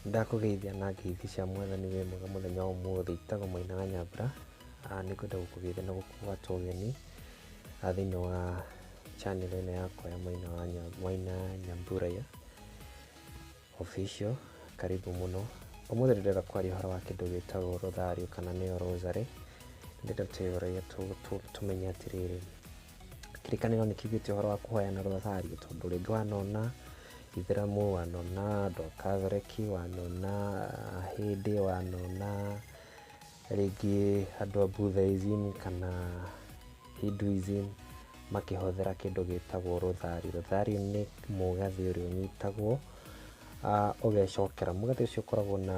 Ndakũgeithia na ngeithi cia mwathani wĩ mwega mũthenya wa ũmũthĩ itagwo Maina wa Nyambura Ah, nĩ kwenda gũkũgeithia na gũkũgwata ũgeni ah, thĩinĩ wa channel ĩno yakwa ya Maina wa Nya- Maina Nyambura ya Official, karibu mũno. Ũmũthĩ ndĩrenda kwaria ũhoro wa kĩndũ gĩtagwo rũthario kana nĩyo rosary. Ndĩrenda tũrĩa tũmenye atĩrĩrĩ, kĩrĩkanĩro nĩ kiugĩte ũhoro wa kũhoyana rũthario tondũ rĩngĩ wanona Ithĩramu, wanona andũ a Kathoreki, wanona Ahĩndĩ, wanona rĩngĩ andũ a Buddhism kana Hinduism makĩhũthĩra kĩndũ gĩtagwo rũthario. Rũthario nĩ mũgathĩ ũrĩa ũnyitagwo ũgecokera. Mũgathĩ ũcio ũkoragwo na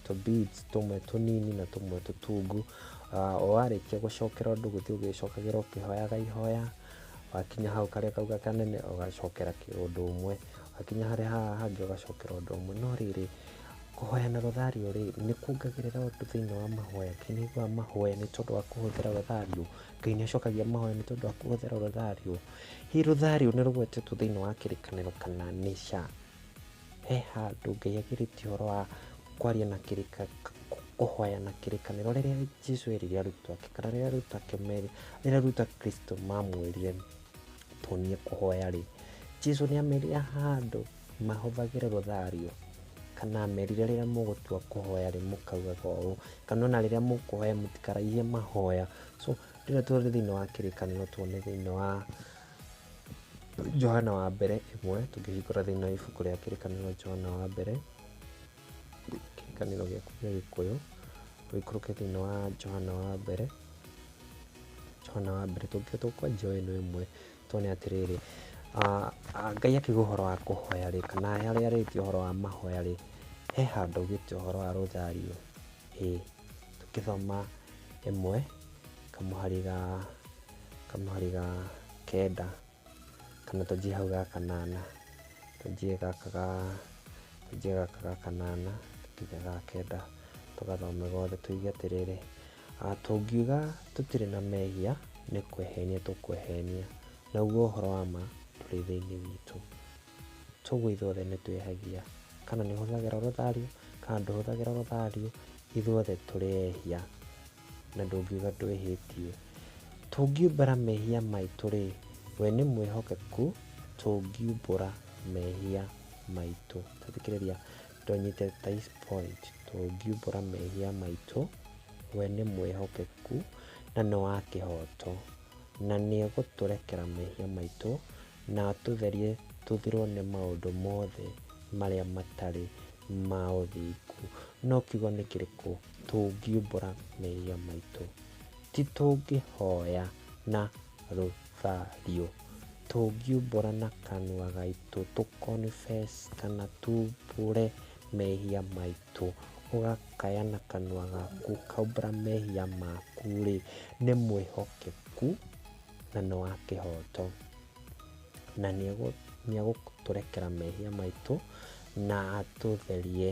tũ beads tũmwe tũnini na tũmwe tũtungu. Warĩkia gũcokera ũndũ gũthiĩ ũgĩcokagĩra ũkĩhoyaga ihoya, wakinya hau karĩa kau gakanene ũgacokera ũndũ ũmwe. hakinya harĩa haha hangĩ ũgacokera ũndũ ũmwe no rĩrĩ kũhoya na rothario rĩ nĩ kuongagĩrĩra ũndũ thĩinĩ wa mahoya ngai nĩ aiguaga mahoya nĩ tondũ wa kũhũthĩra rothario ngai nĩ acokagia mahoya nĩ tondũ wa kũhũthĩra rothario hi rothario nĩ rũgwetetwo thĩinĩ wa kĩrĩkanĩro kana nĩ sha he handũ ngai agirĩtie ũhoro wa kwaria na kĩrĩka kũhoya na kĩrĩkanĩro rĩrĩa jesu erire arutwo ake kana rĩrĩa arutwo ake merĩ rĩrĩa arutwo a kristo mamwĩrire Tuonie kũhoya rĩ, Jesu nĩ amerire handũ mahũthagĩre rũthario kana amerire rĩrĩa mũgũtua kũhoya rĩ mũkaugaga ũũ kana ona rĩrĩa mũkũhoya mũtikaraihie mahoya so rĩrĩa tũrĩ thĩinĩ wa kĩrĩkanĩro tuone thĩinĩ wa Johana wa mbere ĩmwe tũngĩhingũra thĩinĩ wa ibuku rĩa kĩrĩkanĩro Johana wa mbere kĩrĩkanĩro gĩaku gĩa gĩkũyũ ũikũrũke thĩinĩ wa Johana wa mbere Twana wa mbere tũngĩũka tũkwa njoe ĩno ĩmwe tũone atĩrĩrĩ, Ngai akiuga ũhoro wa kũhoya rĩ, kana harĩa arĩtie ũhoro wa mahoya rĩ, he handũ augĩte ũhoro wa rũthario? Ĩ, tũngĩthoma ĩmwe kamũhari ga, kamũhari ga kenda. kana tũnjie hau ga kanana, tũnjie gaka ga, tũnjie gaka ga kanana, tũige ga kenda, tũgathome gothe tũige atĩrĩrĩ, Tũngiuga tũtirĩ na mehia, nĩ kwĩhenia tũkwĩhenia, naguo ũhoro wa ma ndũrĩ thĩinĩ witũ. Toguo ithuothe nĩ twĩhagia, kana nĩ ũhũthagĩra rũthario, kana ndũhũthagĩra rũthario, ithuothe tũrĩ ehia. na ndũngiuga ndwĩhĩtie. Tũngiumbũra mehia maitũ-rĩ, we nĩ mwĩhokeku tũngiumbũra mehia maitũ. Tathikĩrĩria, ndũnyite this point. Tũngiumbũra mehia maitũ, we nĩ mwĩhokeku na nĩ wa kĩhoto, na nĩ egũtũrekera mehia maitũ na atũtherie tũthirwo nĩ maũndũ mothe marĩa matarĩ ma ũthingu. No kiugo nĩ kĩrĩkũ? tũngiumbũra mehia maitũ, ti tũngĩhoya na rũthario, tũngiumbũra na kanua gaitũ tũ confess kana tuumbũre mehia maitũ, ũgakaya na kanua gaku ũkaumbũra mehia maku rĩ, nĩ mwĩhokeku na nĩ wa kĩhoto, na nĩ egũtũrekera mehia maitũ na atũtherie.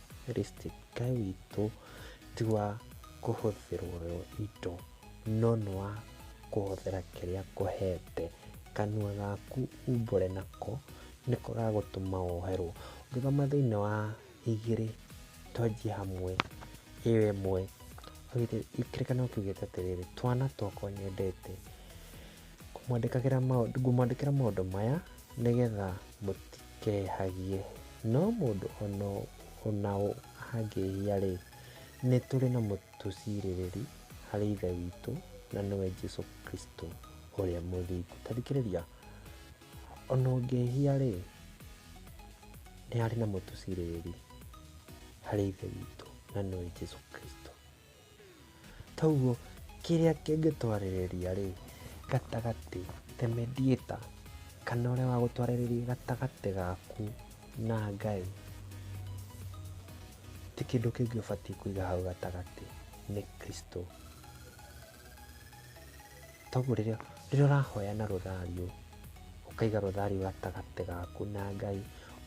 Kristo Ngai witũ ti wa kũhũthĩrwo indo, no nĩ wa kũhũthĩra kĩrĩa akũhete. Kanua gaku umbũre nako nĩko gagũtũma woherwo. Ũngĩthoma thĩinĩ wa igĩrĩ twanjie hamwe ĩyo ĩmwe, kĩrĩkanĩro kiugĩte atĩrĩrĩ, twana twakwa nyendete, ngũmwandĩkĩra maũndũ maya nĩ getha kehagie. No mũndũ o na ũ angĩhia-rĩ, nĩ tũrĩ na Mũtucirĩrĩri harĩ Ithe witũ, na nĩwe Jesu Kristo ũrĩa mũthingu. Ta thikĩrĩria, o na ũngĩhia-rĩ, nĩ harĩ na Mũtucirĩrĩri harĩ Ithe witũ, na nĩwe Jesu Kristo. Toguo kĩrĩa kĩngĩtwarĩrĩria rĩ, gatagatĩ, the mediator, kana ũrĩa wa gũtwarĩrĩria gatagatĩ gaku na Ngai, ti kĩndũ kĩngĩ ũbatiĩ kũiga hau gatagatĩ, nĩ Kristũ. Toguo rĩrĩa ũrahoya na rũthario, ũkaiga rũthario gatagatĩ gaku na Ngai,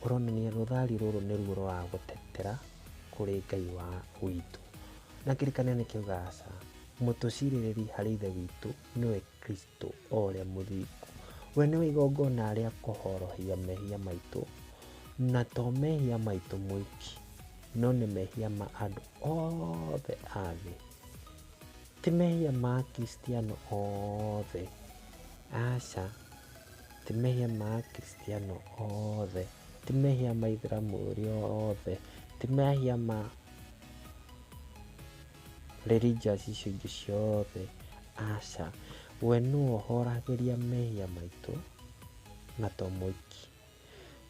ũronania rũthario rũrũ nĩruo rũragũtetera kũrĩ Ngai wa witũ. Na kĩrĩkanĩro nĩ kĩugaga aca, mũtũcirĩrĩri harĩ Ithe witũ nĩwe Kristũ o ũrĩa mũthingu. We nĩwe igongona rĩa kũhorohia mehia maitũ, na to mehia maitũ moiki, no nĩ mehia ma andũ othe a thĩ. Ti mehia ma Akristiano othe. Aca, ti mehia ma Akristiano othe. Ti mehia ma Aithĩramu ũrĩa othe. Ti mehia ma religious icio ingĩ ciothe. Aca, we nĩwe ũhoragĩria mehia maitũ na to mũiki.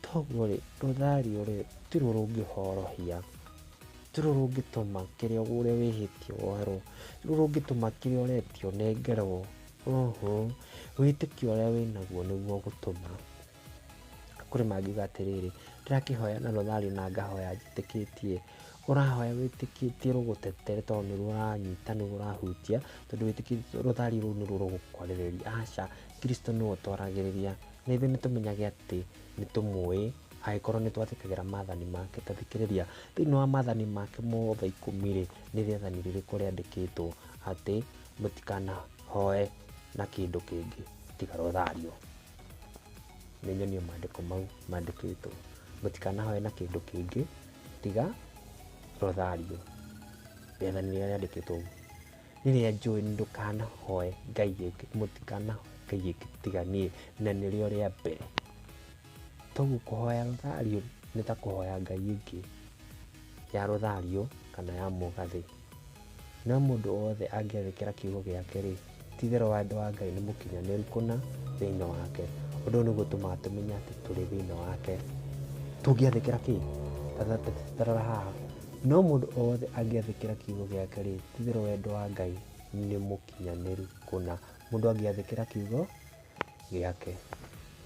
Toguo-rĩ, rũthario-rĩ, tiruo rũngĩhorohia, tiruo rũngĩtũma kĩrĩa ũrĩa wĩhĩtie woerwo, tiruo rũngĩtũma kĩrĩa ũretia ũnengerwo, ũhũ, wĩtĩkio ũrĩa wĩnaguo nĩguo ũgũtũma. Kũrĩ mangiuga atĩrĩrĩ, ndĩrakĩhoya na rũthario na ngahoya njĩtĩkĩtie, ũrahoya wĩtĩkĩtie rũgũtetere tondũ nĩruo ũranyita, nĩruo ũrahutia, tondũ wĩtĩkĩtie rũthario rũu nĩruo rũgũkwarĩrĩria, aca, Kristo nĩwe ũtwaragĩrĩria, Na ithuĩ nĩ tũmenyage atĩ nĩ tũmũĩ angĩkorwo nĩ twathĩkagĩra maathani make. Ta thikĩrĩria, thĩinĩ wa maathani make mothe ikũmi rĩ, nĩ rĩathani rĩrĩkũ rĩandĩkĩtwo atĩ mũtikanahoe na kĩndũ kĩngĩ tiga Rothario? Nĩ nyonie maandĩko mau mandĩkĩtwo. Mũtikanahoe na kĩndũ kĩngĩ tiga Rothario. Rĩathani rĩrĩa rĩandĩkĩtwo ũguo. Rĩrĩa njũĩ nĩ ndũkanahoe Ngai ĩngĩ, mũtikanahoe Ngai ĩngĩ tiga niĩ, na nĩrĩo rĩa mbere. Toguo kũhoya rũthario nĩ ta kũhoya Ngai ĩngĩ ya rũthario kana ya mũgathĩ. No mũndũ wothe angĩathĩkĩra kiugo gĩake rĩ, ti itherũ wendo wa Ngai nĩ mũkinyanĩru kũna thĩinĩ wake. Ũndũ ũyũ nĩguo ũtũmaga tũmenye atĩ tũrĩ thĩinĩ wake. Tũngĩathĩkĩra kĩ? Ta rora haha, No mũndũ o wothe angĩathĩkĩra kiugo gĩake-rĩ, ti-itherũ wendo wa Ngai nĩ mũkinyanĩru kũna. Mũndũ angĩathĩkĩra kiugo gĩake.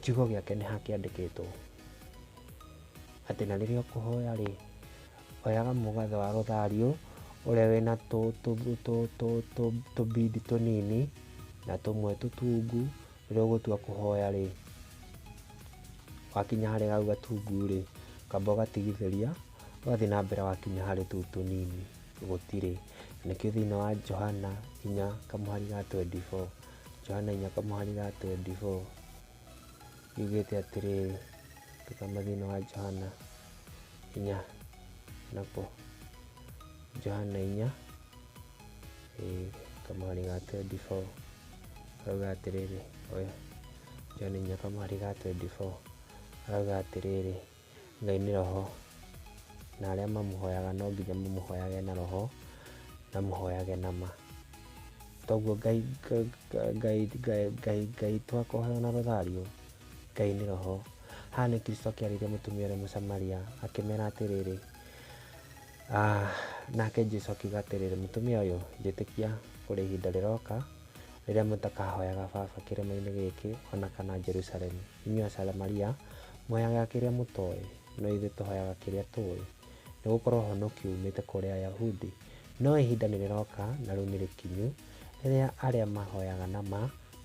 Kiugo gĩake nĩ ha kĩandĩkĩtwo? Atĩ na rĩrĩa ũkũhoya-rĩ, oyaga mũgaathe wa rũthariũ ũrĩa wĩna tũ-bead tũnini na tũmwe tũtungu, rĩrĩa ũgũtua kũhoya-rĩ, wakinya harĩa hau gatungu-rĩ, ũkamba ũgatigithĩria. Twathiĩ na mbere wakinya harĩ tũu tũnini gũtirĩ. Nĩkĩo thĩinĩ wa Johana inya kamũhari ga twendi boo, Johana inya kamũhari ga twendi boo, yugĩte atĩrĩrĩ, tũkama thĩinĩ wa Johana inya nako, Johana inya ĩĩ, kamũhari ga twendi boo, arauga atĩrĩrĩ, oya, Johana inya kamũhari ga twendi boo, arauga atĩrĩrĩ, Ngai nĩ roho, na arĩa mamũhoyaga no nginya mamũhoyage na roho, na mũhoyage na ma. Toguo Ngai, Ngai, Ngai, Ngai, Ngai twakũhoya na rũthario, Ngai nĩ roho. Haha nĩ Kristo akĩarĩria mũtumia ũrĩa mũsamaria, akĩmera atĩrĩrĩ, ah, nake Jesu akiuga atĩrĩrĩ, mũtumia ũyũ, njĩtĩkia kũrĩ ihinda rĩroka, rĩrĩa mũtakahoyaga Baba kĩrĩma-inĩ gĩkĩ, ona kana Jerusalemu. Inyuĩ Asamaria, mũheaga kĩrĩa mũtooĩ, no ithuĩ tũhoyaga kĩrĩa tũũĩ, nĩ gũkorwo ũhonokio uumĩte kũrĩ Ayahudi. No ihinda nĩ rĩroka, na rĩu nĩ rĩkinyu, rĩrĩa arĩa mahoyaga na ma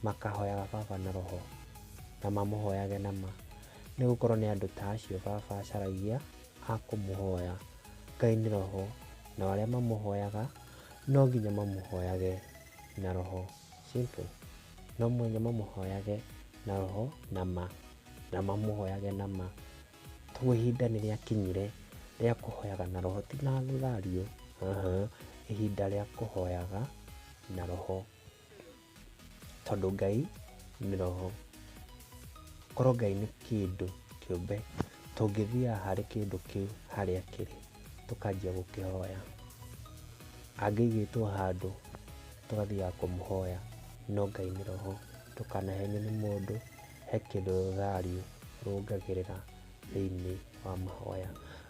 makaahoyaga Baba na roho, na mamũhoyage na ma, nĩ gũkorwo nĩ andũ ta acio Baba acaragia a kũmũhoya. Ngai nĩ roho, nao arĩa mamũhoyaga no nginya mamũhoyage na roho. Simple. no mũhaka mamũhoyage na roho na ma, na mamũhoyage na ma. Koguo ihinda nĩ rĩakinyire rĩa kũhoyaga na roho, ti na thurario, ihinda rĩa kũhoyaga na roho, tondũ Ngai nĩ roho. Korwo Ngai nĩ kĩndũ kĩũmbe, tũngĩthiaga harĩ kĩndũ kĩu harĩa kĩrĩ, tũkanjia gũkĩhoya. Angĩigĩtwo handũ... tũgathiaga kũmũhoya no Ngai nĩ roho ndũkanahenio nĩ mũndũ he kĩndũ rũthariũ rũngagĩrĩra thĩinĩ wa mahoya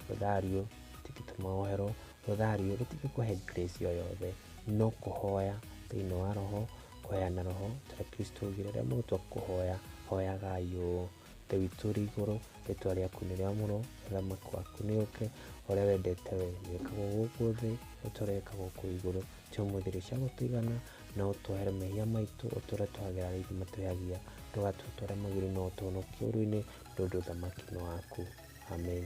rũthariũ tũgĩtũma woherwo rũthariũ rũtingĩkũhe grace o yothe no kũhoya thĩinĩ wa roho kũheana roho ta Kristo augire rĩrĩa mũgũtua kũhoya hoyagai ũũ Ithe witũ ũrĩ igũrũ, rĩtwa rĩaku nĩ rĩa mũro, ũthamaki waku nĩ ũke, ũrĩa wendete we wĩkagwo gũkũ thĩ, ũtũre wĩkagwo kũu igũrũ. Cia ũmũthĩ rĩ cia gũtũigana, na ũtwehere mehia maitũ, ũtũre twagĩra arĩa aitũ matwĩhagia, ndũgatue twarĩa magĩrĩ, no ũtũhonokie ũũru-inĩ, tondũ ũthamaki nĩ waku. Amen.